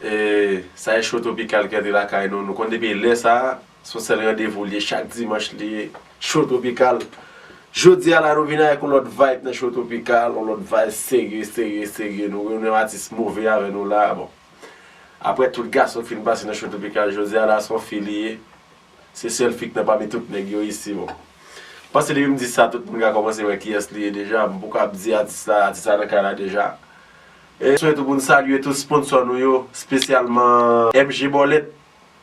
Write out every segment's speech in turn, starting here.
Sa Echo Tropical ki antre lakay nou, nou konn depi lè sa, son sèl randevou li ye chak dimanch li ye Show Tropical. Jodi a la nou vin avèk yon lòt vibe nan Show Tropical, yon lòt vibe serye serye serye, nou gen yon atis move avè nou la bon. Aprè tout gason ki fin pase nan Show Tropical, jodi a la son fi li ye. Se sèl fik nan pami tout nèg yo isi bon. Panse depi m di sa tout moun ka kòmanse wè kiyès li ye deja, m poko ap di atis la, atis la nan kay la deja. E swen tou pou n salye tout sponsò nou yo, spesyalman MG Bòlèt,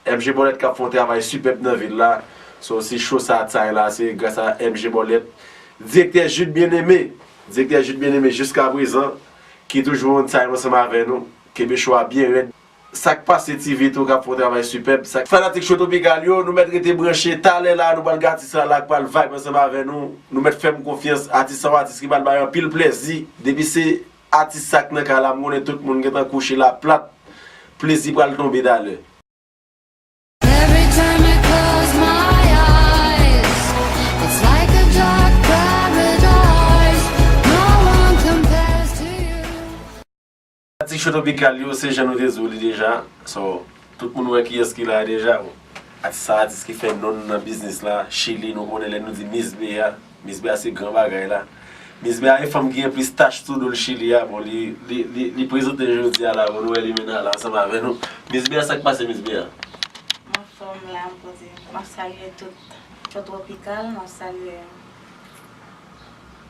MG Bòlèt k ap fè yon travay sipèb nan vil la, so si cho sa tzany la se gras a MG Bòlèt. Direktè Jude Bien-Aimé, Direktè Jude Bien-Aimé jiskaprezan ki toujou on time ansanm avè nou, kenbe cho a byen rèd. Sak pase ti vit ou kap fon travay sipèb. Fanatik Show Tropical yo nou mèt rete branche talè la nou pral gen atis la la k pral vibe ansanm avè nou nou mèt fèm konfyans atis sa yon atis ki pral bay anpil plèzi depi se atis sa k nan kay la m konnen tout moun gentan kouche la plat plezi pral tonbe talè. Ti cho tropikal yo se jan nou te di w li deja so tout moun wè kiyès ki la a deja bon atis sa atis ki fè non l nan biznis la chili nou konnen lè nou di miss bea miss bea se gran bagay la miss bea e fanm ki gen plis tach sou do l chili a bon li li li prezante jodi a la bon nou wè limena la ansanm avè nou miss bea sak pase miss bea. M anfòm la m poze m ap salye tout cho tropikal m ap salye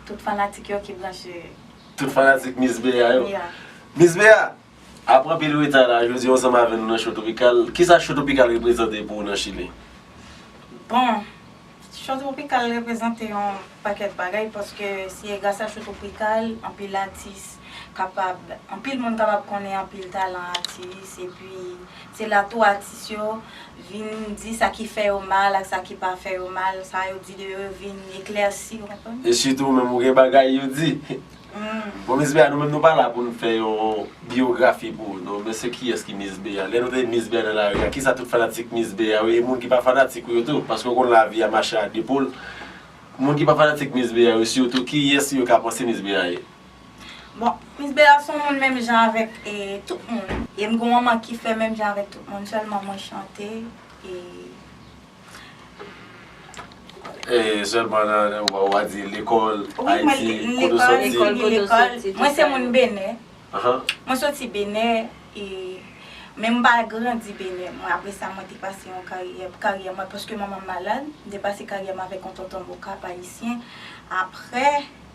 tout fanatik yo ki branche Tout fanatik Miss Bea yo. Miss Bea! Apre anpil reta la, jodi ansanm avè nou nan Show Topikal. Kisa Show Topikal reprezante pou ou nan Chili? Bon, Show Tropikal reprezante yon pakèt bagay paske se gras a Show Tropikal anpil atis kapab, anpil moun kapab konnen anpil talan atis epi Se la tou atis yo vin di sa ki fè yo mal ak sa ki pa fè yo mal, sa yo di de yo yo vin eklèsi, ou konprann? E sitou ou menm ou gen bagay yo di. Bon Miss Bea nou menm nou pa la pou nou fè yon biyografi pou ou non, men se kiyès ki Miss Bea? Lè nou tande Miss Bea nan lari a, kisa tout fanatik Miss Bea yo e moun ki pa fanatik ou yo tou, paske ou konn lavi a mache a 2 poul, moun ki pa fanatik Miss Bea yo sitou kiyès yo ka panse Miss Bea ye? Bon, Miss Bella son moun menm jan avèk tout moun. E m gon manman ki fè menm jan avèk tout moun, sèlman mwen chante e. E sèlman nan, ou a di lekòl, Ayiti, kote w soti. Lekòl, kote w soti. Mwen se moun Benè. Mwen soti Benè e men m pa grandi Benè. Mwen apre sa mwen te pase yon karyè, karyè mwen paske manman m malad, m te pase karyè m avèk yon tonton m okap ayisyen. Apre.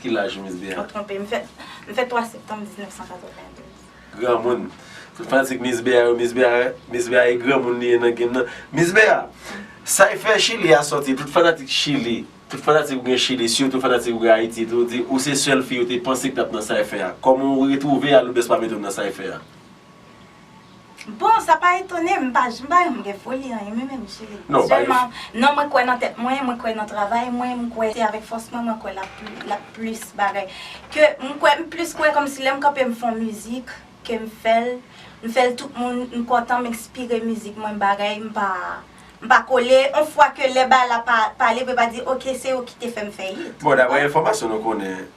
Ki laj Miss Bea? Ou twonpe, m fèt, m fèt 3 septanm 1992. Granmoun. Tout fanatik Miss Bea yo, Miss Bea, Miss Bea e granmoun li ye nan game nan. Miss Bea, Cypher Chili a sòti, tout fanatik Chili, tout fanatik ou gen Chili, sitou fanatik ou gen Ayiti tou, di ou se sèl fi yo te panse ki t ap nan Cypher a. Kòman ou retwouve Alourdes pa mete w nan Cypher a? Bon, sa pa etone m, m pa janm pa janm gen foli anyen mwen menm cheri. Non, bay yon. Sèlman, non mwen kwè nan tèt mwen, mwen kwè nan travay mwen, m kwè se avèk fòs mwen mwen kwè lap lap plis bagay ke m kwè m plis kwè kòmsi lè m kanpe m fon mizik ke m fè l m fè l tout moun m kontan m ekspire mizik mwen bagay m pa m pa kole on fwa ke lè bal la pa pale pou yo pa di ok se yo ki te fè m fè hit. Bon daprè enfòmasyon nou konnen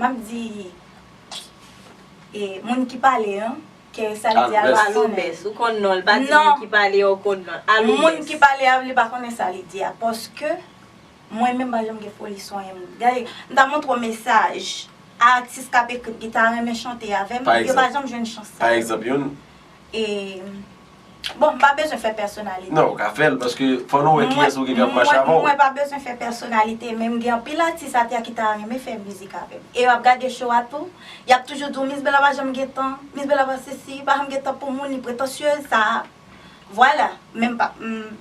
Map di e moun ki pale an ke sa li di a li pa konnen. Aloubès, ou konn non l, pa di moun ki pale an ou konn non l. Aloubès. Moun ki pale a li pa konnen sa li di a paske mwen menm m pa janm gen foli sonye moun. Gade, m ta montre w mesaj a atis kap ekri ki ta renmen chante avè m, yo pa janm jwenn chans sa yo. Pa egzanp, yon. E Bon m pa bezwen fè pèsonalite. Non ou ka fèl paske fò nou wè kiyès ou gen kap mache avèw. Mwen pa bezwen fè pèsonalite men m gen anpil atis atè a ki ta renmen fè mizik avèm. E yo ap gade show a tou, yap toujou di w Miss Bella pa janm gen tan, Miss Bella pa sesi, pa janm gen tan pou moun, li pretansyez, sa a. Vwala, men m pa m.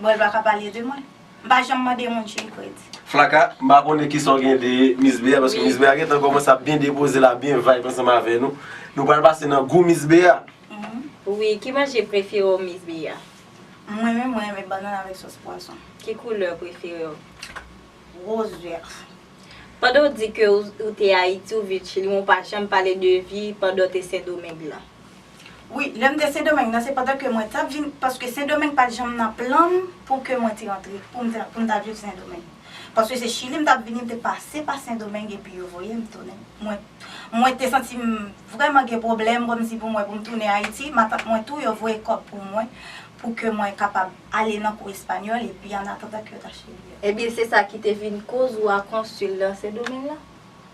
Bon el paka pale de mwen. M pa janm mande moun chili kredi. Flacka, m pa konnen kisa w gen de Miss Bea paske Miss Bea gentan kòmanse ap byen depoze l ap byen vibe ansanm avè nou. Nou pral pase nan gou Miss Bea. Wi, ki manje prefere w Miss Bea? Mwen menm mwen renmen bannann avèk sòs pwason. Ki koulè prefere w? Rose vert. Pandan w di ke w te Ayiti, w viv Chili men w pa janm pale de vi pandan w te Sendomeng lan. Wi, lè m te Sendomeng nan se pandan ke mwen tap vin, paske Sendomeng pat janm nan plan m pou ke mwen te rantre, pou m te, pou m ta viv Sendomeng. Paske se Chili m tap vini, m te pase pa Sendomeng epi yo voye m tounen. Mwen, mwen te santi m vrèman gen pwoblèm kòmsi pou mwen pou m tounen Ayiti, matant mwen tou yo voye kòb pou mwen pou ke mwen kapab ale nan kou espanyòl epi annatandan ke yo ta chili a. Ebyen se sa ki te vin koz ou a konsil nan Sendomeng lan?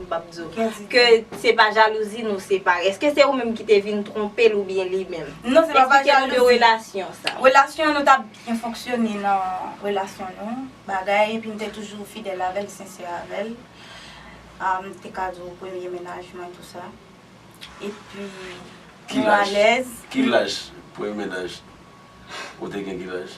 Map diw gen di. Ke se pa jalouzi nou separe. Eske se ou menm ki te vin twonpel ou byen li menm? Non se pa pa jalouzi. Esplike nou de relasyon sa. Relasyon nou tap byen fonksyone nan relasyon nou. Bagay epi mte toujou fidèl avèl, sensè avèl. Mte ka diw premye mennaj mwen tou sa. Epi nou alèz. Ki laj premye mennaj ou te gen ki laj?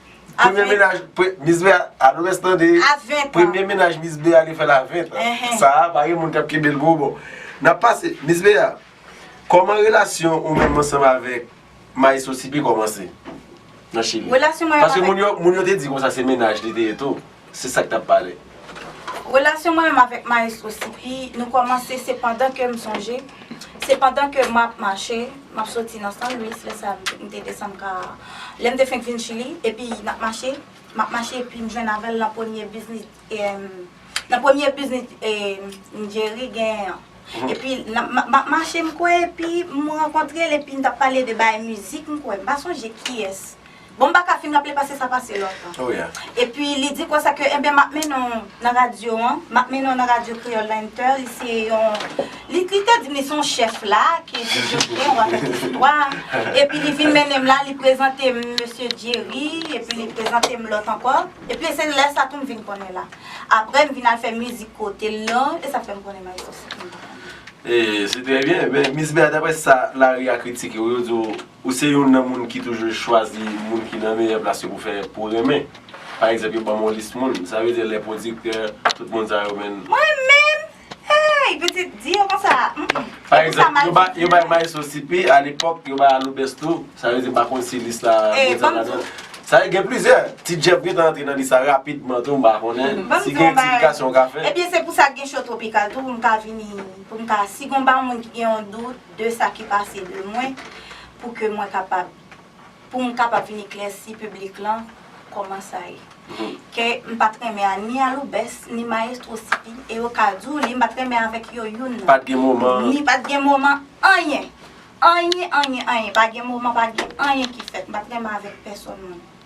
Premye menaj Miss Bea a nou res tande a 20 ans Premye menaj Miss Bea li fèl a 20 ans Sa a pa gen moun kap kenbel pou ou bon Nap pase Miss Bea Koman relasyon ou menm ansanm avèk Maestro CP komanse Nan chili Paske moun yo te di konsa se menaj li te ye tou Se sak tap pale. Relasyon mwen menm avèk maestro Sipi nou kòmanse se pandan ke m sonje se pandan ke map mache map soti nan San Luis lè sa m te desann ka lè m te fenk vin Chili epi nap mache map mache epi m jwenn avèl nan premye biznis nan premye biznis m Jerry genyen an epi map mache m kwè epi m rankontre l epi n tap pale de bagay mizik m kwè m pa sonje kiyès Bon m pa ka fin raple pase sa pase lontan. Oh yeah. Epi li di konsa ke enben m ap mennen w nan radyo an, m ap mennen w nan radyo Kreyòl la Inter, li se yon, li te di m li se yon chèf la ki di Joslin w a fè listwa. Epi li vin mennen m la, li prezante m mesye Djeri, epi li prezante m lòt ankò. Epi se lè sa tou m vin konnen la. Aprè m vin al fè mizik kote l lan, e sa fè m konnen Maestro Sixto m pa konnen. E se trè byen, men Miss Bea daprè sa lari a kritike w yo di w Ou se youn nan moun ki toujou chwazi moun ki nan meyè plas yo pou fè pou renmen. Pa egzanp yo banm yon lis moun. Sa vle di lè pwodiktè, tout moun sa yo menn. Mwen menm! Hey! Pitit, di yo konsa. Pa egzanp, yo bay Maestro CP a lepòk, yo bay Aloubès tou. Sa vle di m pa konn si lis la gen Djab ladan l. Sa vle di gen plizyè. Ti Djab gen tan antre nan lis la rapidman tou m pa konnen. Si gen eksplikasyon ou ka fè. Ebyen se pou sa gen show Tropical tou pou m ka vini, pou m ka si gon pa moun ki gen yon dout. de sa ki pase de mwen pou ke mwen kapab, pou m kapab vin eklèsi piblik lan kòman sa ye. Ke m pa t renmen a ni Aloubès, ni Mayestwo Sipi, e yo ka di w li, m pa t renmen avèk yo youn nan. Pa t gen moman. Ni pa t gen moman anyen. Anyen, anyen, anyen. Pa gen moman, pa gen anyen ki fèt. M pa t renmen avèk pèsonn moun.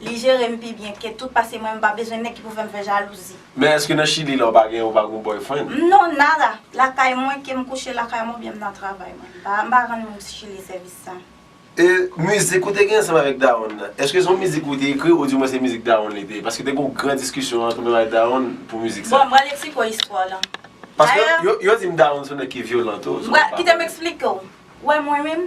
Li jerem pi byen ke tout pase mwen mpa bezwen nèg ki pou fèm fè jalouzi. Men eske nan chili la ou pa gen ou pa gon boyfriend. M non nada lakay mwen kem kouche lakay mwen oubyen m nan travay mwen m pa m pa rann moun chili sèvis sa. E mizik ou te gen ansanm avèk dawonn nan, eske se yon mizik ou te ekri ou di mwen se mizik dawonn li te ye? Paske te gen yon gran diskisyon antre mwen avèk dawonn pou mizik sa. Bon m pral eksplike w istwa lan. Dayè. Paske yo di m dawonn se yon nèg ki vyolan tou. M pral, kite m eksplike w. Ou wè mwen menm?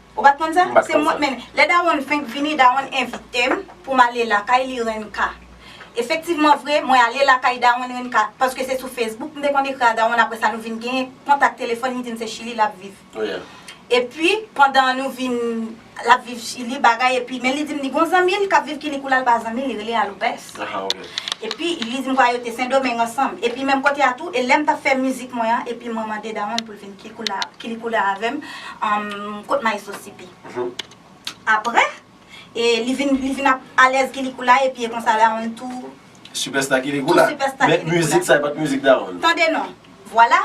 Ou pat konn sa? M pat Se konn mwen sa. men lè dawonn fenk vini dawonn envite m pou m ale lakay li Renka. Efektivman vre mwen ale lakay dawonn Renka paske se sou Facebook m te konn ekri a dawonn apre sa nou vin gen kontak telefòn li di m se Chili lap viv. Epi pandan nou vin lap viv Chili bagay epi men li di m li gon zanmi l kap viv kini kou la l pa zanmi li rele a Lopez. Epi li di m kwa yo te Sendomeng ansanm epi menm kote a tou e lè m tap fè mizik mwen an epi mwen mande dawonn pou l vin Kili koulè avèm kot maestro sipi. Aprè e li vin li vin ap alèz kili koulè epi e konsa Raon tou. Sipèsta kili koulè. Men mizik sa e pat mizik Daron. Tande non. Vwala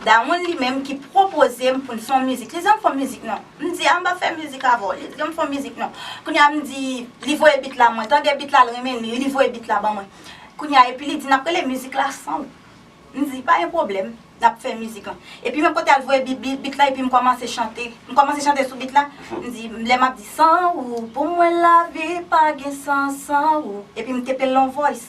Daron li menm ki pwopozem poun fon mizik. Li di ann fon mizik non. M di a m pa fè mizik avèw. Li di ann fon mizik non. Kounya m di li voye bit la mwen tande bit la l renmen li. Li voye bit la ban mwen. Kounya epi li di nap rele mizik la sanw. M di, pa gen pwoblèm, n ap fè mizik lan. Epi menm kote al voye bit la epi m kòmanse chante. M kòmanse chante sou bit la, m di, lè m ap di san ou pou mwen lavi pa gen sans san ou. Epi m tepe l lon vòys.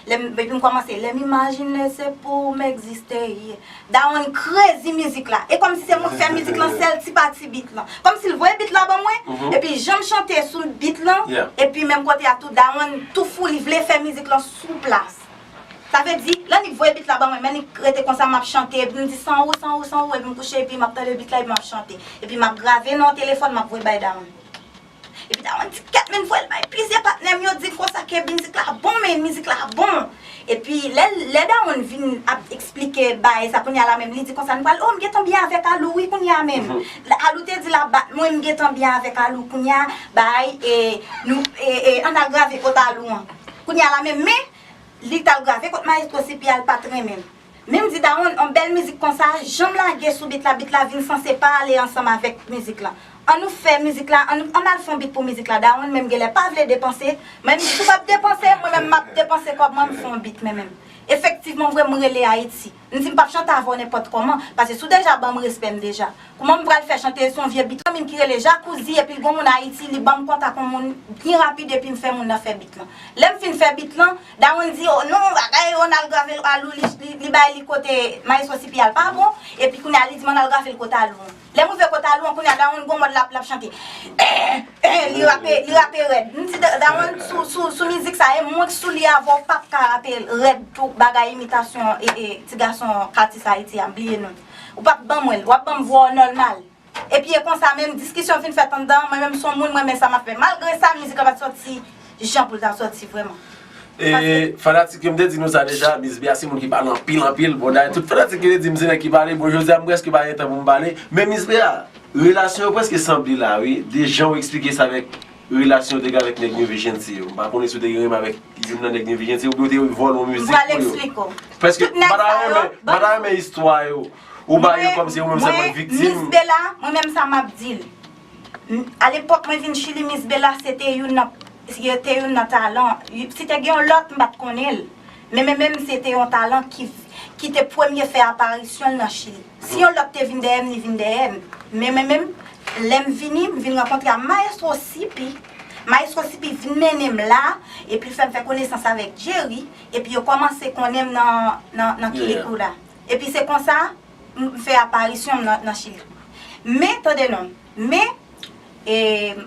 Lè m, epi m kòmanse, lè m imajine se pou m egziste ye. Dawonn krezi mizik la. E kòmsi se mwen k fè mizik lan, se l ti pa ti bit lan. Kòmsi l voye bit la ban mwen, epi jan m chante sou bit lan, epi menm kote a tou Dawonn tou fou li vle fè mizik lan sou plas. Sa vle di, lè Nick voye beat la ban mwen, men li rete konsa map chante, epi m di san ou, san ou, san ou, epi m kouche epi map tande beat la epi map chante. Epi map grave nan yon telefòn map voye bay Dawonn. Epi Dawonn di kèt men voye l bay plizyè patnè m yo di konsa ke mizik la bon men mizik la bon. Epi lè l, lè Dawonn vin ap eksplike bae sa kounya la menm li di konsa n pral oh m gentan byen avèk Alou wi kounya menm. Alou te di l ap bat mwen m gentan byen avèk Alou kounya bae e nou e e an n al grave kot Alou an kounya la menm men Li tal grave kot maestro CP al pat renmen. Menm di Dawonn on bèl mizik konsa janm lage sou bit la bit la vin sanse pa ale ansanm avèk mizik lan. An nou fè mizik la an nou an al fon bit pou mizik la Dawonn menm genlè pa vle depanse mwen menm si ou pap depanse mwen menm map depanse kòb mwen m fon bit mwen menm. Efektivman vre m rele Ayiti. M di m pap chante avè w nenpòt kòman, pase si w deja ban m respè m deja. Kouman m pral fè chante l se yon vye bit lan min ki rele Jacuzzi epi l gon moun Ayiti li ban m kontak yon moun byen rapid epi m fè moun nan fè bit lan. Lè m fin fè bit lan, Dawonn di o non bagay Ronald grave l Alou li bay li kote Maestro Cipiyal pa bon epi kounye a li di m an al grave l kote Alou an. Lèm rive kot Alou an kounya Dawonn gon mòd lap lap chante eh eh li rape li rape rèd m di Dawonn sou sou sou mizik sa e mwen k sou li avè w pap ka rape l rèd tou bagay imitasyon e e ti gason atis ayiti a m bliye non ou pap k ban mwen l wap ban m vwa w nòlmal epi e konsa menm diskisyon fin fèt anndan mwen menm son moun m renmen sa map fè malgre sa mizik la pat sòti Jan pou l ta soti vrèman. E fanatik yo m te di nou sa deja Miss Bea se moun ki pale anpil anpil bon dayè tout fanatik yo te di m se nèg ki pale bon jodi a m prèske pa gen tan pou m pale men Miss Bea relasyon yo prèske sanble la wi de jan ou eksplike sa avèk relasyon ou te gen avèk nèg New Vigency yo m pa konnen si ou te gen renmen avèk youn nan nèg New Vigency yo oubyen ou te vòlè yon mizik pou yo m pral eksplike ou prèske m pa ta renmen m pa ta renmen istwa yo ou bay yo kòmsi ou menm sèlman k viktim mwen Miss Bea mwen menm sa m ap di l A lepòk mwen vin Chili Miss Bella se te youn nan se te youn nan talan si te gen yon lòt m pa t konnen l men men menm se te yon talan ki ki te premye fè aparisyon l nan Chili si yon lòt te vin dèyè m li vin dèyè m men men menm lè m vini m vin rankontre a Maestro Sipi Maestro Sipi vin mennen m la epi l fè m fè konesans avèk Jerry epi yo kòmanse konnen m nan nan nan Quilicura epi se konsa m fè aparisyon m nan Chili. Men, tande non, men, e,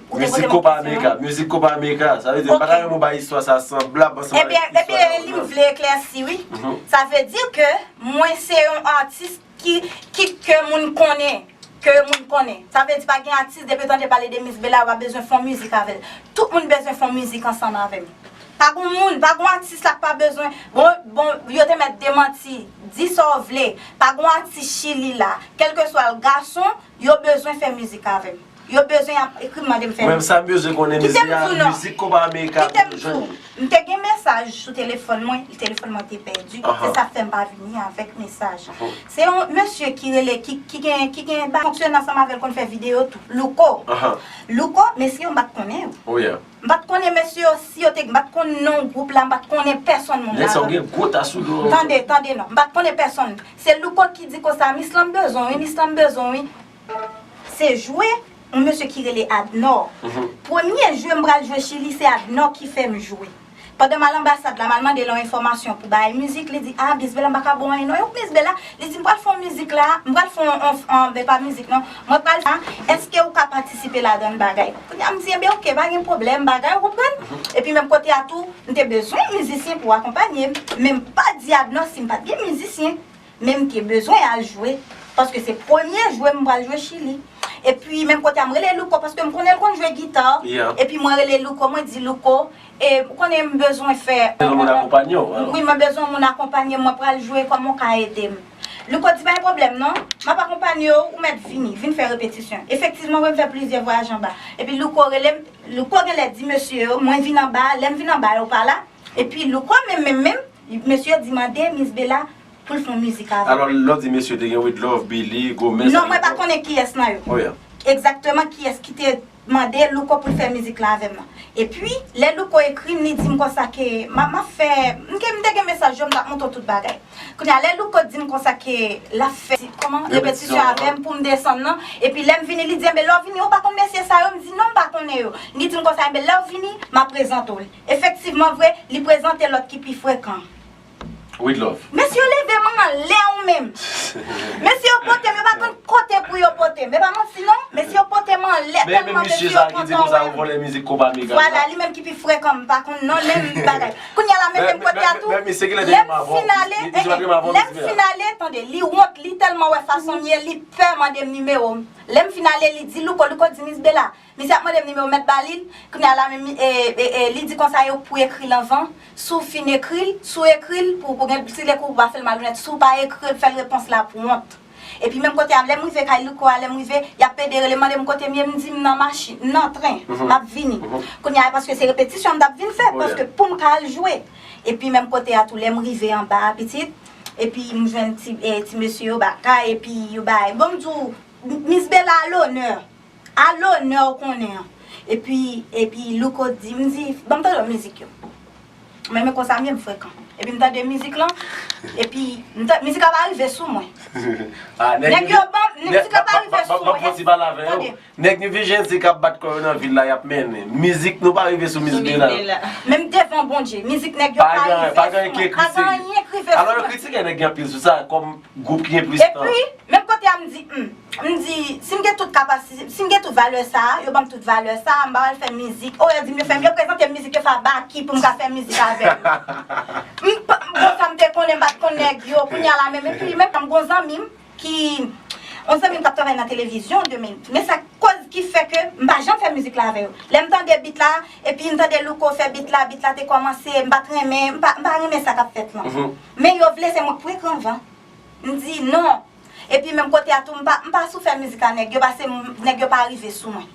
ou te poze m yon kesyon. Mizik Kopa Amerika, sa vle di, m pa ta renmen ou bay istwa sa sanblab ansanm avèk istwa Laurent. Ebyen, ebyen, li m vle eklèsi, wi. Sa vle di ke mwen se yon atis ki, ki, ke moun konnen, ke moun konnen. Sa vle di pa gen atis depi w tande pale de Miss Bella ou pa bezwen fè yon mizik avè l. Tout moun bezwen fè yon mizik ansanm avè m. Pa gon moun, pa gon atis la k pa bezwen, bon, bon, yo te mèt demanti, di sa w vle, pa gon atis Chili la, kèlkeswa l, gason, yo bezwen fè mizik avè m. Yo bezwen y ap ekri m mande m fè mizik. Kite m di w non, kite m di w, m te gen mesaj sou telefòn mwen, telefòn mwen te pèdi, se sa k fè m pa vini avèk mesaj. Se yon mesye ki rele, ki gen, ki gen, ki fonksyone ansanm avè l konn fè videyo tou, Louko. Louko, mesye yo m pa t konnen yo. M pat konnen mesye yo si yo te m pat konn non gwoup la m pat konnen pèsonn moun la non tande tande non m pat konnen pèsonn se louko ki di konsa mis lan m bezwen w wi mis lan m bezwen w wi se jwe yon mesye ki rele adnò premye jwe m pral jwe chili se adnò ki fè m jwe Pandan mal anbasad la mal mande l yon enfòmasyon pou bay mizik li di ah miss bella m paka ba w anyen non yo miss bella li di m pral fè yon mizik la m pral fè yon anfm e pa mizik non mwen pral fè a eske ou ka patisipe ladan l bagay kounye a m di enben ok pa gen pwoblèm bagay ou konprann epi menm kote a tou m te bezwen yon mizisyen pou akonpanye m men m pa dyab non si m pat gen mizisyen Men m te bezwen al jwe paske se premye jwe m pral jwe Chili. Epi menm kote a m rele Louko paske m konnen l konn jwe gita. Epi mwen rele Louko mwen di Louko e ou konnen m bezwen fè. Bezwen moun akonpanye w. Wi mwen bezwen moun akonpanye m mwen pral jwe kòman w ka ede m. Louko di pa gen pwoblèm non m ap akonpanye w ou mèt vini vin fè repetisyon. Efektivman mwen fè plizyè vwayaj anba. Epi Louko rele m Louko genlè di mesye yo mwen vin anba lè m vin anba yo pa la. Epi Louko menm menm menm, mesye di mande Miss Bella poul fon mizik avèl. Alò lèw di mesye te gen Widlove, Billy, Gomez. Non mwen pa konnen kiyès nan yo. Egzakteman kiyès ki te mande Louko poul fè mizik lan avèm nan. Epi lè Louko ekrim li dim konsa ke map fè, m te gen mesaj yo m tap montre w tout bagay. Kounye a lè Louko dim konsa ke lap fè kòman, repetisyon avèm poum desann nan, epi lèm vini li di enben lèw vini ou pa konn mesye sa yo, m di non m pa konnen yo. Li dim konsa enben lèw vini map prezante w li. Efektivman vre, li prezante lòt ki pi frekan. With love. Mesye yo leve m anlè ou menm. Mesye yo pote m, yo pa konn kote pou yo pote m. E pa manti non, mesye yo pote m anlè Men men tèlman misye mesye yo sa ki di kontan konsa wè ou m. vòlè mizik konpa Mega sa. Vwala, li menm ki pi frekan m pa konn non menm bagay. Kounya la mete m kote a tou. Men misye kilè te Lè gen m m avò? fin ale, Misye pa te gen m avò lè m misye a? fin ale, tande, li wont, li tèlman wè fason m ye, li pè mande m nimewo m. Lè m fin ale li di Louko, Louko di Miss Bella, Misye ap mandem nimewo mèt balil, kounya la menm li di konsa yo pou ekril anvan, si w fin ekril, si w ekril pou pou gen si lè kou pou pa fèl malonèt, si w pa ekril fèl repons la pou wont. Epi menm kote a lèm rive kay Louko a lèm rive, yap pede relem mandem kotem ye m di m nan machin, m nan tren, map vini. Kounya a paske se repetisyon m tap vin fè paske poum ka al jwe. Epi menm kote a tou lèm rive anba a pitit, epi m jwenn ti mesye yo ba kay epi yo bay, bon m di w Miss Bella a lonè. A lonè ou konnen an. Epi epi louko di m di banm tande yon mizik yo m renmen konsa m vin frekan epi m tande mizik lan epi m ta mizik la pa rive sou mwen nèg yo banm mizik la pa rive sou mwen e tande nèg new vision se kap bat kò yo nan vil la yap mennen mizik nou pa rive sou mizik de la men m devan bondye mizik nèg yo pa rive sou mwen pa gen anyen ki rive sou mwen alò yo kritike nèg yo anpil sou sa kòm Gwoup ki gen plis tan. Epi, menm kote a m di, Hum, m di, si m gen tout kapasi, si m gen tout valè sa a, yo ban m tout valè sa a, m pa pral fè mizik. O, yo di m yo fè m, yo prezante m mizik, yo fè a Baky pou m ka fè mizik avè l. M pa, bon sa m te konnen, m pa t konn nèg yo, kounye a la menm. Epi, menm m gon zanmi m ki, yon zanmi m k ap travay nan televizyon de menm. Men sa koz ki fè ke m pa janm fè mizik la avè yo. Lè m tande beat la, epi m tande Louko fè beat la, beat la te kòmanse, m pa t renmen, m pa, m pa renmen sa k ap fèt lan. Men yo vle fè mwen pran gran van. M di non. Epi menm kote a tou m pa m pa sou fè mizik a nèg yo pase m nèg yo pa rive sou mwen.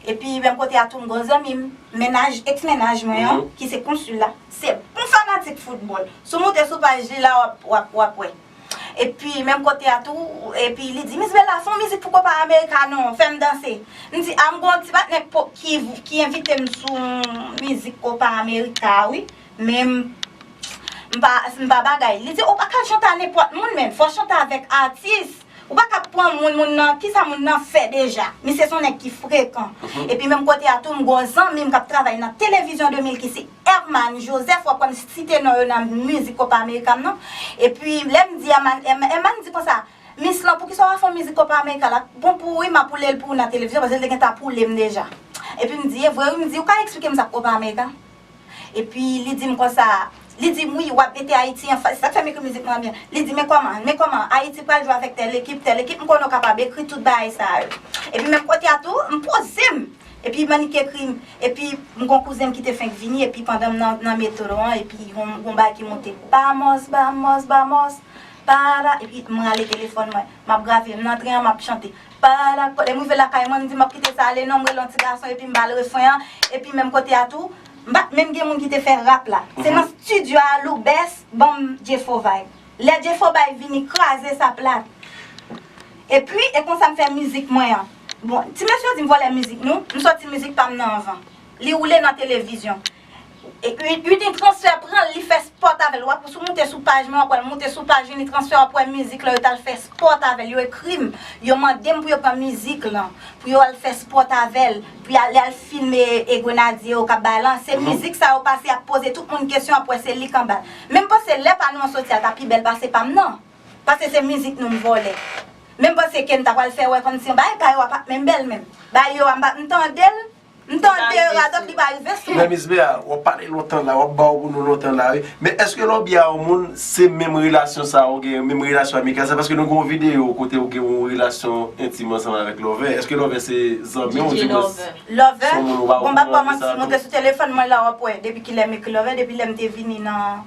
Epi menm kote a tou m gon zanmi m, mennaj, ex mennaj mwen an, ki se konsil la. Se yon fanatik foutbòl. Si w moute sou paj li la w ap w ap wè. Epi menm kote a tou, epi li di Miss Bella fè yon mizik pou Copa America non, fè m danse. M di a m gon ti patnè ki ki envite m sou mizik Copa America a wi. Men m pa m pa bagay. Li di ou pa ka chante a nenpòt moun menm. Fò chante avèk atis. Ou pa ka pran moun, moun nan, kisa moun nan fè deja. Misye son nèg ki frekan. Epi menm kote a tou m gon zanmi m k ap travay nan Télévision 2000 ki se Herman Joseph. Ou ap wè m site non yo nan mizik Copa America m nan. Epi lè m di Herman, Herman di konsa, Mis lan poukisa ou pa fè yon mizik Copa America la? Bon pou ou wi m ap woule l pou ou nan Télévision paske l te gentan ap woule m deja. Epi m di e vre wi, m di ou ka eksplike m sa k Copa America? Epi li di m konsa, li di m wi wap mete Ayiti an fas, se sak fè m ekri mizik mwen an byen, li di men kòman, men kòman, Ayiti pral jwe avèk tèl ekip, tèl ekip, m konnen w kapab ekri tout bagay sa yo. Epi menm kote a tou, m poze m, epi Manick ekri m, epi m gon kouzen m ki te fenk vini, epi pandan m nan metro an, epi gon bagay ki monte, Bamos, bamos, bamos, para, epi m rale telefòn mwen, m ap grave, m nan tren an m ap chante. Parada Lè m rive lakay mwen, m di m ap kite sa ale non, m rele yon ti gason epi m ba l refren an, epi menm kote a tou, m pa t menm gen moun ki te fè rap la. Se nan stidyo a Loubès ban m Jefo Vibe. Lè Jefo Vibe vini kraze sa plat. Epi, e konsa m fè mizik mwen an. Bon, ti mesye yo di m vòlè mizik nou, m sòti mizik pa m nan anvan. Li woule nan televizyon. Unitransfer pranl li fè sport avèl wap sou moute sou paj mwen wap wèl moute sou paj Unitransfer wap wè mizik lan yo tal fè sport avèl yo ekrim yo mandem pou yo pran mizik lan pou yo al fè sport avèl pou yo al filme e grenadye yo kap bay lan se mizik sa yo pase yap poze tout moun kesyon wap wè se li kanbal menm panse lè pa nou an soti a ta pi bèl pase pam nan pase se mizik nou m vòlè menm panse kem ta pral fè wè kòmsi yon bagay pa yo a pap menm bèl menm bagay yo a m pap m tandel. M tande radot li pa rive sou. Mè mis bea wap pale lontan la wap baw pou nou lontan la wi men eske lè w byen a yon moun se menm relasyon sa ou gen menm relasyon amikal sa paske nou gen yon video kote ou gen yon relasyon entim ansanm avèk lòvè eske lòvè se zanmi w di mwens lòvè bon m pap kòmanse monte sou telefòn mwen la wap wè depi kilè m ekri lòvè depi lèm te vini nan.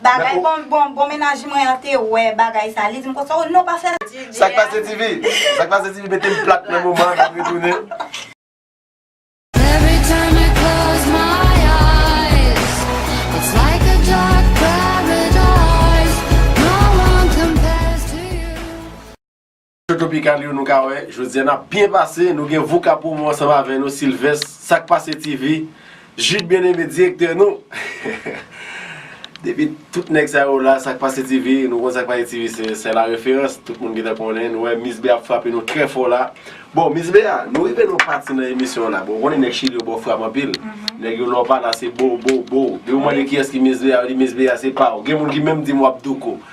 Bagay bon bon bon menaj mwen an te wè bagay sa li dim konsa ou non pa fè sa. Sak pase tifi? Sak pase tifi mete m plat nan moman an nap retounen. Tropikal yo nou ka wè jodi a nap byen pase nou gen Vouka Promo ansanm avè nou Sylvest sak pase TV Jude Bien Aimé direktè nou depi tout nèg sa yo la sak pase TV nou konn sak pase TV se la referans tout moun gentan konnen nou wè Miss Bea ap frape nou trè fò la bon Miss Bea nou rive nan yon pati nan emisyon an la bon ou konnen nèg chili yo baw frap anpil nèg yo lè w pale a se bow bow bow depi w mande kiyès ki Miss Bea yo di Miss Bea se pa w gen moun ki menm di m wap douko.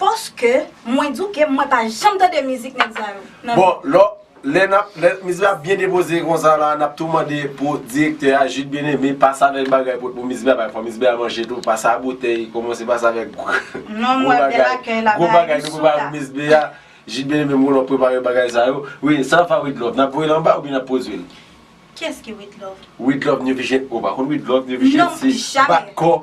Paske mwen di w ke mwen pa janm tande mizik nèg sa yo nan Bon lò lè nap lè mizik la ap byen depoze konsa la nap tou mande pou direktè a Jude Bien-Aimé pase avèk bagay pou pou mizik la bay fò mizik la manje tou pase a boutèy komanse pase avèk gwo Non m wè bèl bagay akèy la gwo bagay nou prepare pou mizik la Jude Bien-Aimé m konnen wap prepare bagay sa yo wi sa nap fè a Widlove nap voye l anba oubyen nap pwodui l? Kiyès ki Widlove? Widlove New Vision ou pa konn Widlove New Vision se bat kò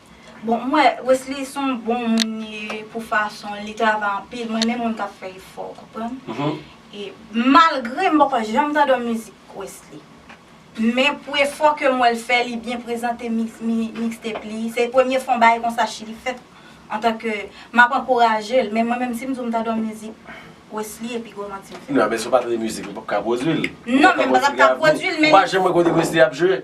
Bon m wè Wesly son bon moun li ye pou fason li travay anpil m renmen moun kap fè efò ou konprann e malgre m poko janm tande yon mizik Wesly men pou efò ke m wè l fè li byen prezante mixtape li se premye fwa yon bagay konsa chili fèt antanke map ankouraje l men mwen menm si m di w m tande yon mizik Wesly epi gwo manti m fè. Nan men si w pa tande mizik li w pap ka pwodui l. Non men m pa tap ka pwodui l men. Ou pa janm wè kote Wesly ap jwe?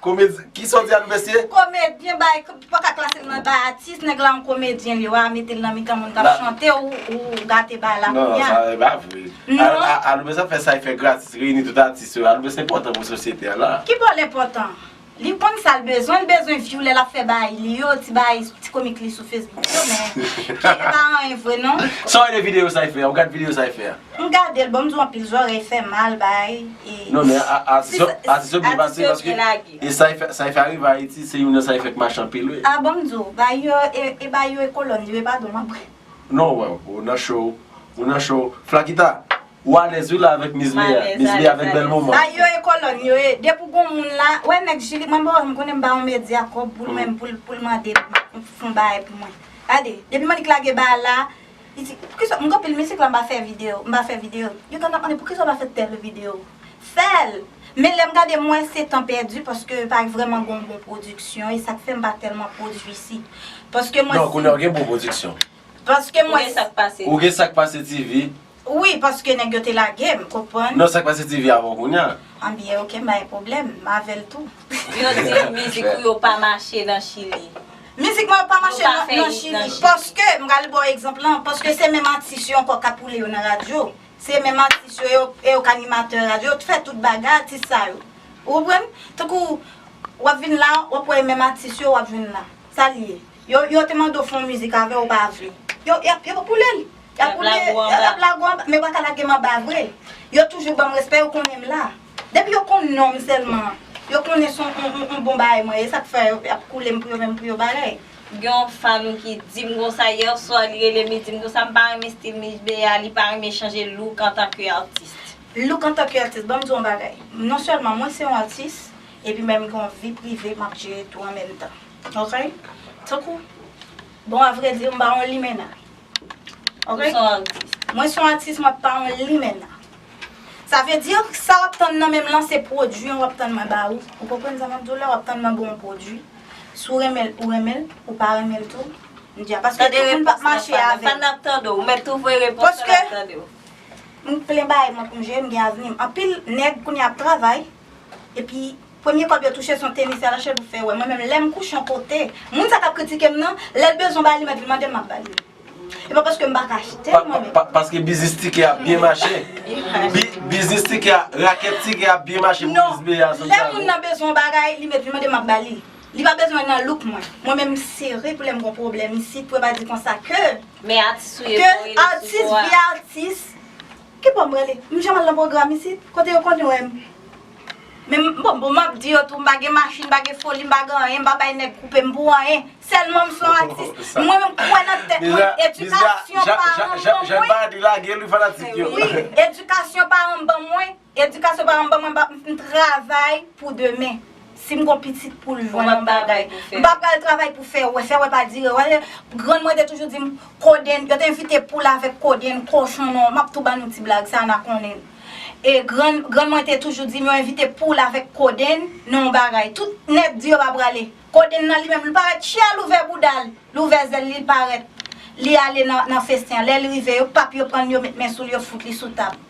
Komedyen, kisa w di a nou mesye? Komedyen ba e, ou paka klase l nan bay atis, nèg la yon komedyen li, wa mete l nan mitan moun kap chante ou gate bagay la kounya. Non, sa pa vre. Non. Aloubens ap fè sa li fè gratis, reyini tout atis yo, Aloubens enpòtan pou sosyete a la. Ki bò l enpòtan? Li konn sa l bezwen, li bezwen vyou lè lap fè bagay li yo, ti bagay, ti komik li sou Facebook yo men, ki e pa anyen vre non. Sa w rele videyo sa li fè a, ou gad videyo sa li fè a? M gadel bon m di w anpil zòrèy fè mal bay e. Non men atis yo atis yo byen pase paske e sa yo fè arive ayiti se youn nan sa yo fè k mache anpil wi. A bon m di w bay yo e bay yo e kolòn yo e pa do m apre. Non w wè w ou nan cho ou nan cho flakita ou alèz wi la avèk miss lea miss lea avèk bèl moman. Bay yo e kolòn yo e depi w gon moun la wè nèg jili mwen bon m konnen m ba yon medya kòb pou l mande m pou l mande m fon bagay pou mwen gade depi m annik lage bagay la. Li di, poukisa m gen anpil mizik la m pa fè video, m pa fè video. Yo tande ap mande poukisa w pa fè tèl video. Fè l! Men lè m gade m wè se tan pèdi paske pa vrèman gen yon bon pwodiksyon e sa k fè m pa tèlman pwodui isi. Paske mwen si. Non, kounye a w gen bon pwodiksyon. Paske mwen. Ou gen sa k pase. Ou gen sa k pase TV. Wi, paske nèg yo te lage m, konprann. Non, sa k pase TV avè w kounye a. Anbyen ok m pa gen pwoblèm, m avè l tou. Yo di mizik ou yo pa mache nan Chili. Mizik mwen yo pa mache nan chili paske m pral ba w egzanp lan paske se menm atis yo ankò k ap woule yo nan radyo se menm atis yo e yo k animatè radyo yo t fè tout bagay atis sa yo ou konprann tankou w ap vin la w ap wè menm atis yo w ap jwenn la sa l ye yo te mande w fè yon mizik avè ou pa vle yo y ap woule l y ap woule y ap lage w anba men yo pa ka lage m anba vre yo toujou ban m respè yo konnen m la. Depi yo konn nonm selman yo konnen son on bon bagay mwen ye sak fè yap koulem pou yo menm pou yo bagay. Gen yon fanm ki dim konsa hier soir li relem li dim konsa mpa renmen stil Miss Bea li pa renmen chanje look antan ke artiste. Look antan ke artiste banm di w yon bagay non selman mwen se yon artiste epi menm gen yon vi prive map jere tou an menm tan ok tankou bon a vre di mpa yon limenna ok mwen se yon artiste mwen pa yon limenna. Sa vle di, sa w ap tann nan men m lan se pwodui an w ap tann mwen ba ou. Ou konprann sa m ap di w la? W ap tann mwen ba w yon pwodui. Si w renmen l, ou renmen l. Ou pa renmen l tou, m di a. Paske tout moun p ap mache avè m. Fann nan ap tande w. Ou mèt tou voye repons lan, l ap tande w. M plen bagay mwen pou m jere, m gen avni m. Anpil nèg kounye a ap travay. Epi premye kòb yo touche son tenis yal achetel pou fè wè mwen menm lèm kouche yon kote moun sa kap kritikem nan lèl bezwen bagay li mèt li mandem map bali e pa paskem paka achtel mwen menm. Paske biznis tikè a byen mache. Biznis tikè a, rakèt tikè a byen mache pou biznis biyè a Santiago. Non, lè moun nan bezwen yon bagay, li mèt li mande map ba li. Li pa bezwen nan look mwen. Mwen menm m sere pou lè m gon pwoblèm isit pou yo pa di konsa ke, ke atis vye atis. Ki pòm rele? M janm al nan pwogram isit? Kote yo konn wè m? Men m bon m ap di yo tou m pa gen machin, m pa gen foli, m pa gen anyen, m pa bay nèg koupe m pou anyen. Sèlman m se yon atis. Mwen menm m kwè nan tèt mwen. Edikasyon paran m ban mwen. Wi, edikasyon paran m ban mwen. Edikasyon paran m ban mwen m travay pou demen. Si m gon pitit pou l jwenn yon bagay, m pa pral travay pou fè wè. Fè wè pa dire wè. Grann mwen te toujou di m, Kodenn, yo te envite poul avèk kodenn, kochon non. M ap tou ba nou ti blag sa, na konnen l. E grann, grann mwen te toujou di m yo envite poul avèk kodenn nan yon bagay. Tout nèg di yo pa prale. Kodenn nan li menm, li parèt tchya, l ouvè bouda l, l ouvè zèl li, l parèt. Li ale nan festen an. Lè l rive, yo pap yo pran l, yo met men sou l, yo fout li sou tab.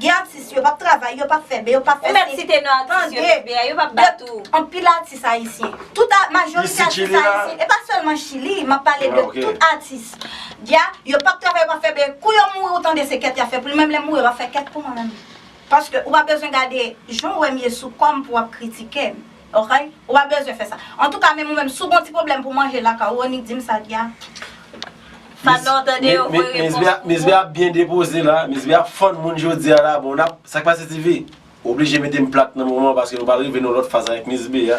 Gen atis yo pap travay, yo pap fè be, yo pap fè si. Ou mèt site non atis yo fè be a, yo pap bat ou. Anpil atis ayisyen. Tout a majorite atis ayisyen. E pa sèlman chili, map pale de tout atis. Dia, yo pap travay, yo pap fè be. Kou yo mouri ou tande se kèt ya fè pou li. Menm lèm mouri yo pap fè kèt pou mwen menm. Paske ou pa bezwen gade jan ou wèm ye sou kòm pou wap kritikem. Ok ou pa bezwen fè sa. Antouka menm ou menm si w gon ti pwoblèm pou manje lakay ou annik di m sa ki a Fadlan ou tande yo voye repons pou ou. Miss B ap byen depoze la, Miss B ap fann moun jodi a la bon nap, sa k pase TV? Oblije mete m plat nan moman an paske nou pral rive nan yon lòt faz avèk Miss B a.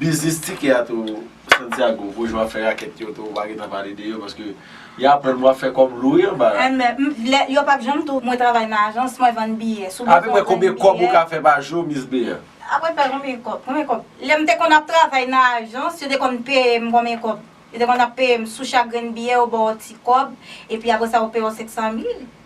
Biznis tikè a tou Santiago pou jou wap fè rakèt yo tou ou pa gentan pale de yo paske y aprann wap fè kòb lou wi anba la. Enben yo pap janm di w mwen travay nan ajans mwen vann biyè sou bezwen vann biyè. Apre konbyen kòb ou ka fè pa jou Miss Bea? Apre fè konbyen kòb konbyen kòb lè m te konn ap travay nan ajans yo te konn peye m konbyen kòb yo te konn ap peye m sou chak grenn biyè yo ba w ti kòb epi apre sa yo peye w 500 mil.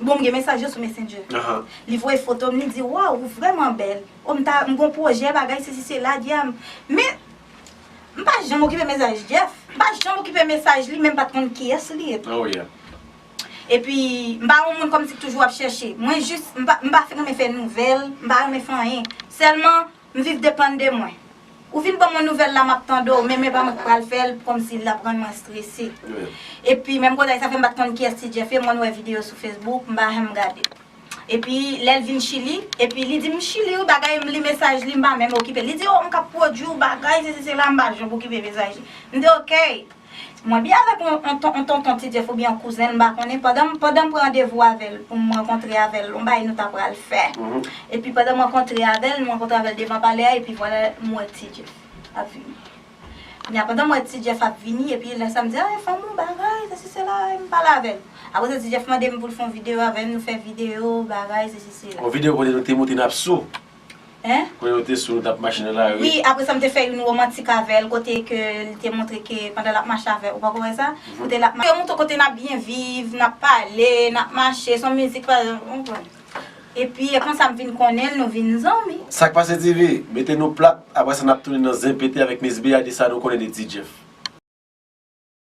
Bon m gen mesaj yo sou messenger. Li voye foto m li di waw ou vrèman bèl. O m ta m gon pwojè bagay sesi sela dyanm. Men m pa janm okipe mesaj Jeff. M pa janm okipe mesaj li men m pat konn kiyès li ye tou. Epi m pa yon moun kòmsi k toujou ap chèche. Mwen jis m pa m pa renmen fè nouvèl. M pa renmen fè anyen. Sèlman M viv depann de mwen. Ou vin banm yon nouvèl la map tande w men men pa mwen ki pral fè l kòmsi lap rann mwen strese. Epi menm koze sa fèm pat konn kiyès ti Jeff ye mwen wè video sou Facebook m pa janm gade. Epi lèl vin chili epi li dim m chili wi bagay m li mesaj li m pa menm okipe l li di oh m kap pwodwi w bagay sesi sela m pa janm okipe mesaj li m di ok. Mwen byen avèk yon yon ton yon tonton ti Jeff oubyen yon kouzen l m pa konnen pandan m pandan m pran randevou avè l pou m rankontre avè l yon bagay nou ta pral fè epi pandan m rankontre avè l m rankontre avè l devan palè a epi vwala m wè ti Jeff ap vini kounye a pandan m wè ti Jeff ap vini epi lè sa m di a e fanm ou bagay sesi sela e m pale avè l apre sa ti Jeff mande m pou l fè yon videyo avè m nou fè videyo bagay sesi sela. Yon videyo kote nou te montre n ap sou. Hein? Kwen yo te sou yo tap mache nan la rue. Wi apre sa m te fè youn romantik avèl kote ke li te montre ke pandan lap mache avè ou poko wè sa? Kote lap mache. Yo montre kote nap byen viv, nap pale, nap mache, son mizik pa ou konprann. Epi e konsa m vin konnen l nou vin zanmi. Sak pase TV? Mete nou plat, apre sa nap tounen nan zen pete avèk Miss Bea di sa nou konnen de T-Jeff.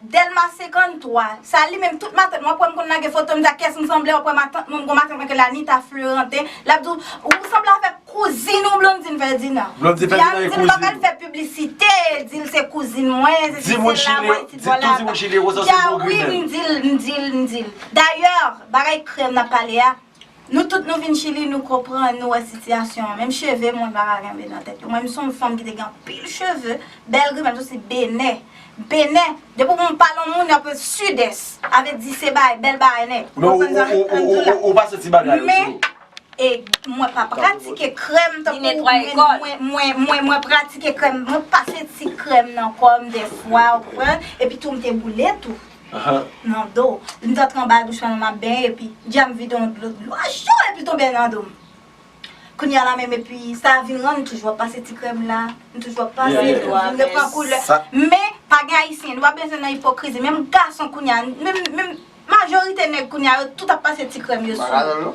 Delma 53, sa li menm tout matant mwen ap wè m konn lage foto m di akyès m sanble wap wè matant mwen m gon matant mwen rele Anita Fleurante lap di w ou sanble avèk kouzin ou Blondine Ferdinand Blondine Ferdinand e kouzin ou li paka fè piblisite di l se kouzin mwen se si se la mwen isit bò la bò di a wi m di l m di l m di l dayè bagay krèm nap pale a Nou tout nou vin chili nou konprann nou wè sitiyasyon an menm cheve moun pa ka kenbe nan tèt yo mwen m son fanm ki te gen anpil cheve bèl grimèt m soti benè benè depi m pale yon moun ap rele sidès avle di se bagay bèl bagay nèt ou konprann sa m di la ou pa soti bagay yo men e mwen pa pratike krèm mwen mwen pratike krèm mwen pase ti krèm nan kòm dèfwa ou konprann epi tou m te boule tou. Nan do. M t antre anba douch lan nan m ap benyen epi Dya m vide yon dlo dlo a cho epi l tonbe nan do m Kounye a la menm epi sa vin rann m toujou ap pase ti krèm la m toujou ap pase l vin repran koulè men pa gen ayisyen nou pa bezwen nan ipokrizi menm gason kounye a menm majorite nèg kounye a yo tout ap pase ti krèm yo sou yo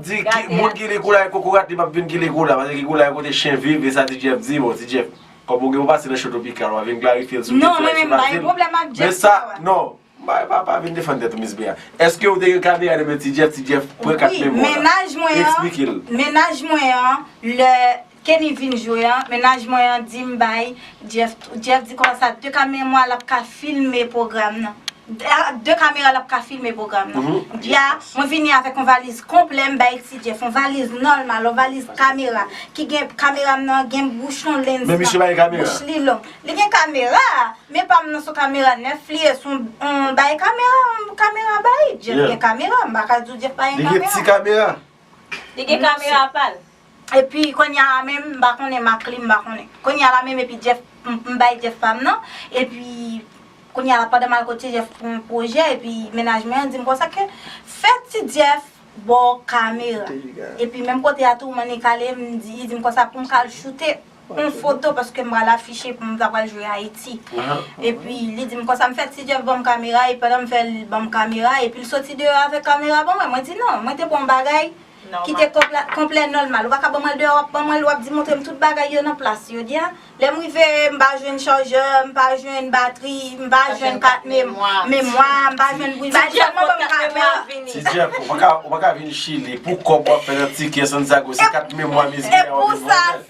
Di moun ki li koulay kokorat li pap vin ki li koulay paske ki koulay kote chen viv e sa ti Jeff di bon ti Jeff kòm ou gen ou pase nan cho tropikal wap vin klarifyel sou kesyon nan sou Brazil men sa non bay pa pa vin defann tèt ou miss Bea eske ou te gen kamera nan men ti Jeff ti Jeff pran kat memwa la esplike l. Mennaj mwen an lè Kenny vin jwe an mennaj mwen an dim bay Jeff tou Jeff di konsa ak 2 kamemwa lap ka filme pwogram nan ak 2 kamera lap ka filme pwogram nan bya mwen vini avèk yon valiz konplè m bay ti Jeff yon valiz nòlmal yon valiz kamera ki gen kamera m nan gen bouchon lens nan bouch li long li gen kamera men pa m nan son kamera nèf li ye son yon bay kamera yon kamera bay Jeff gen kamera m pa ka di w Jeff pa gen kamera li gen kamera pa l. Epi konnya a menm m pa konnen mak li m pa konnen. Konnya la menm epi Jeff m bay Jeff pam nan epi konnya la pandan m al kote Jeff pou yon pwojè epi mennaj mwen an di m konsa ke fè ti Jeff ba w kamera epi menm kote a tou Monica ale m di li di m konsa pou m ka al choute yon foto paske m pral afiche pou m ta pral jwe Ayiti epi li di m konsa m fè ti Jeff ban m kamera epi pandan m fè l ban m kamera epi l soti deyò avèk kamera ban mwen mwen di non mwen te bon bagay. Kite kòb la konplè nòlmal. Ou pa ka ban mwen l deyò, w ap ban mwen l, w ap di montre m tout bagay yo nan plas yo. Di a, lè m rive, m pa jwenn chajè, m pa jwenn batri, m pa jwenn kat memwa, m pa jwenn bouyi. Ti Djèp, kote kat memwa a vini? Ti Djèp, ou pa ka vin Chili pou kòb w ap fè nan tikè Santiago, se kat memwa mizè a w ap vin vòlè.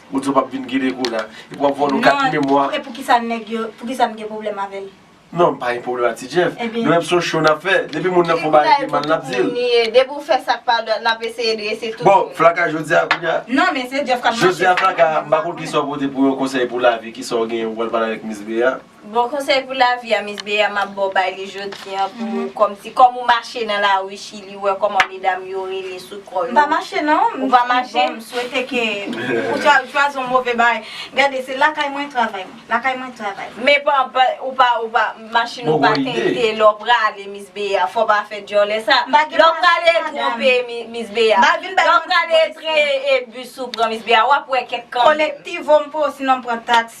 Ou di w pap vin gin ego la. Epi wap vòlò kat memwa. Non, e poukisa nèg yo, poukisa m gen pwoblèm avè l? Non, m pa gen pwoblèm ak ti Jeff. Nou menm se yon show nap fè. Depi moun nan fè yon bagay ki mal nap di l. Depi w fè sak pa dwat nap eseye drese tout moun. Bon, flaka jodi a kounya. Non, men se Jeff kap mache. Jodi a flaka, m pa konn kisa w pote pou yon konsèy pou lavi, kisa w gen wal pale avèk Miss Bea. Bon konsèy pou lavi a Miss Bea map baw bay li jodi an pou ou kòmsi kòm ou mache nan lari chili ou wè kòman medam yo rele sou kò yo. M pa mache non, m bon m swete ke ou chwazi yon move bagay. Gade se lakay mwen travay mwen, lakay mwen travay mwen. Men pa ou pa ou pa machin ou pa tente lè w prale Miss Bea fò w pa fè dyòlè sa. Lè w prale twonpe Miss Bea, lè w prale e tren e bus ou pran Miss Bea wap wè kèk kanmenm. Kolektivo m pran osinon m pran taks.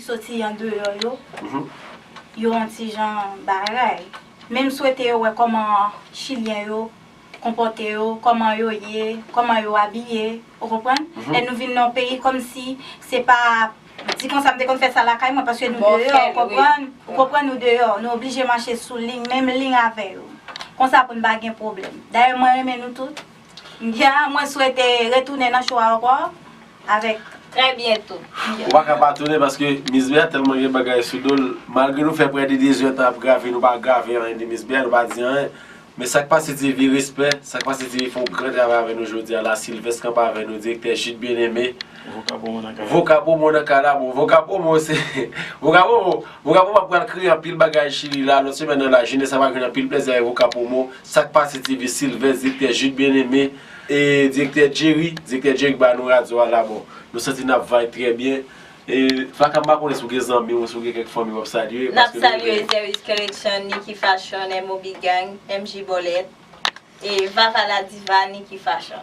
soti andeyò yo, yo yon ti jan baray. Men m swete yo wè kòman chilyen yo konpòte yo, kòman yo ye, kòman yo abiye, ou konprann? Lè nou vin nan yon peyi kòmsi se pa di konsa m te konn fè sa lakay mwen paske nou deyò, ou konprann? Ou konprann nou deyò, nou oblije mache sou liy, menm liy avè yo. Konsa pou n pa gen pwoblèm. Dayè mwen renmen nou tout. Mkya mwen swete retounen nan show a ankò avèk trè byento. Ou pa ka pa tounen paske Miss Bea tèlman gen bagay sou do l malgre nou fè prè de 2 zè tan ap grave nou pa grave anyen de Miss Bea nou pa di anyen men sak pase TV respè sak pase TV fè yon gran travay avè nou jodi a la Sylvest kanpe avè nou direktè Jude Bien Aimé Voka Promo nan kay la Voka Promo nan kay la bon Voka Promo se Voka Promo Voka Promo ap pral kreye anpil bagay chili la lòt semèn nan la jenès la pral jwenn anpil plèzi avèk Voka Promo Sak pase TV Sylvens, Direktè Jude Bien Aimé, e Direktè Jerry, Direktè Jerry k bay nou radyo a la bon nou santi nap vibe trè byen e Flacka m pa konnen si w gen zanmi w si w gen kèk fanmi wap salye Nap paske nou salye vle Zeris Collection, Nicky Fashion, MOB Gang, MJ Bolèt, e Vava la Diva, Nicky Fashion.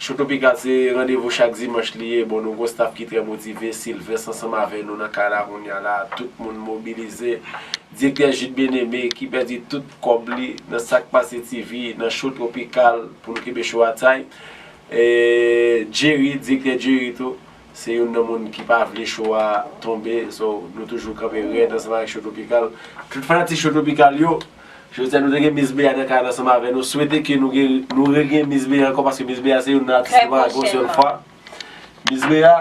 Cho Topikal se randevou chak dimanch li ye, bon nou gon staff ki trè motive, Sylvens ansanm avè nou nan kay la kounya la, tout moun mobilize, direktè Jude Bien-Aimé ki pèdi tout kòb li nan sak pase TV nan Cho Tropikal pou nou kenbe cho a tight, Jerry, direktè Jerry tou. Se youn nan moun ki pa vle cho a tonbe so nou toujou kanpe rèd ansanm avèk Cho Tropikal. Tout fanatik Cho Tropikal yo, jodi a nou te gen Miss Bea nan kay la ansanm avè nou, swete ke nou gen nou regenyen Miss Bea ankò paske Miss Bea se youn nan atis ki pa ka gwo sèl fwa. Miss Bea,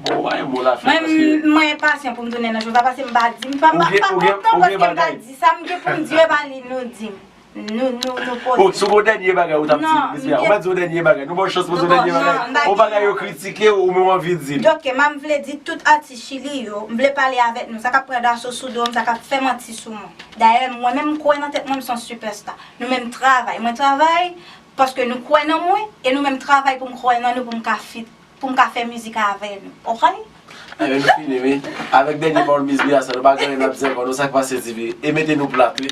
bon ou pa gen mo la fè paske. Mwen enpasyan pou m tounen nan cho sa paske m pa di m pa kontan paske m ta di sa m gen pou m di yo e pa li nou di m. Nou, nou, nou poze. Bon, sou gon dènye bagay ou t ap di, Miss Bea? Ou pa di yon dènye bagay? Nou ba w chans poze yon dènye bagay? Non, non, m pa di. Yon bagay yo kritike ou, men w anvi di l. Ok, ma m vle di tout atis Chili yo, m vle pale avèk nou, sa k ap pran daso sou do m, sa k ap fè manti sou mwen. Dayè, mwen menm m kwè nan tèt mwen m se yon sipèsta. Nou menm travay. Mwen travay paske nou kwè nan mwen, e nou menm travay pou m kwè nan nou pou m ka fit, pou m ka fè mizik avè nou. Ok? Enben, nou fini wi. Avèk dènye pawòl Miss Bea sa, nou pa gen anyen n ap di ankò non, sa k pase di wi? E mete nou plat wi.